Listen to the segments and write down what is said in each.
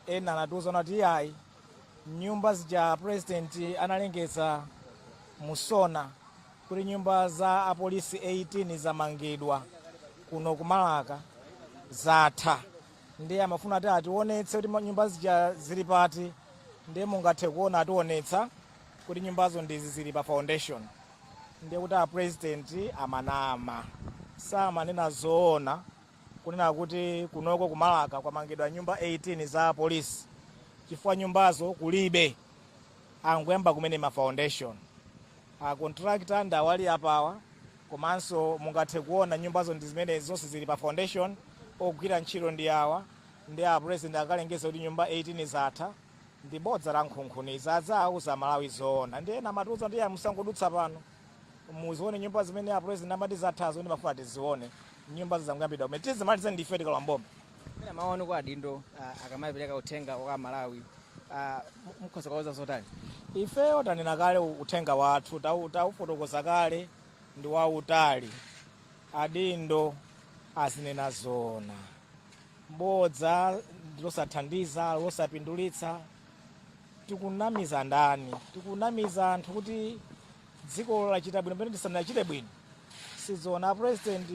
ena anatiuza kuti iyayi nyumba zija a president analengeza mu SONA kuti nyumba za apolisi 18 zamangidwa kuno kumalaka zatha ndiye amafuna kuti atiwonetse kuti ma- nyumba zija zili pati ndiye mungathe kuona atiwonetsa kuti nyumbazo ndizi zili pa foundation ndiye kuti a president amanama samanena zoona kunena kuti kunoko ku Malaka kwamangidwa nyumba 18 za apolisi chifukwa nyumbazo kulibe, angoyamba kumene ma foundation. A contractor ndi awali apawa komanso mungathe kuona nyumbazo ndi zimenezi, zonse zili pa foundation, ogwira ntchito ndi awa, ndiye a president akalengeza kuti nyumba 18 zatha, ndi bodza lankhunkhuniza, aziwauza Amalawi zoona, ndi ena amatiuza kuti iyayi musangodutsa pano. muzione nyumba zimene a president amati zathazo ndiye amafuna tizione nyumba zangoyambidwa kumene tizimalize ndife tikalowa m'boma Mwina maoni kwa adindo ah, akamapereka uthenga kwa Amalawi ah, mu- mukhoza kuwauza zotani ifeyo tanena kale uthenga wathu tau- taufotokoza kale ndi wautali adindo azinena zoona bodza ndi losathandiza losapindulitsa tikunamiza ndani tikunamiza anthu kuti dziko lachita bwino pamene tisanachite bwino sizoona a president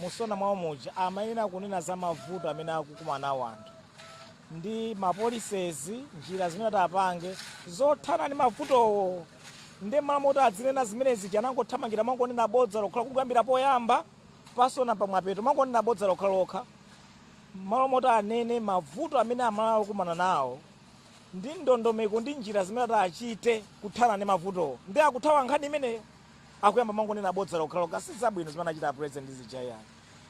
mu SONA mwawo muja amayenera kunena za mavuto amene akukumana nawo anthu ndi mapolisezi njira zimene atapange zothana ndi mavutowo ndi mmalo moti azinena zimenezi koma anangothamangira kumangonena bodza lokhalokha kuyambira poyamba pa SONA pamapeto kumangonena bodza lokhalokha M'malo moti anene mavuto amene Amalawi akukumana nawo ndi ndondomeko ndi njira zimene atachite kuthana ndi mavutowo, ndiye akuthawa nkhani imeneyo. Akuyamba kumangonena bodza lokhalokha. Si zabwino zimene anachita a President zija iyayi.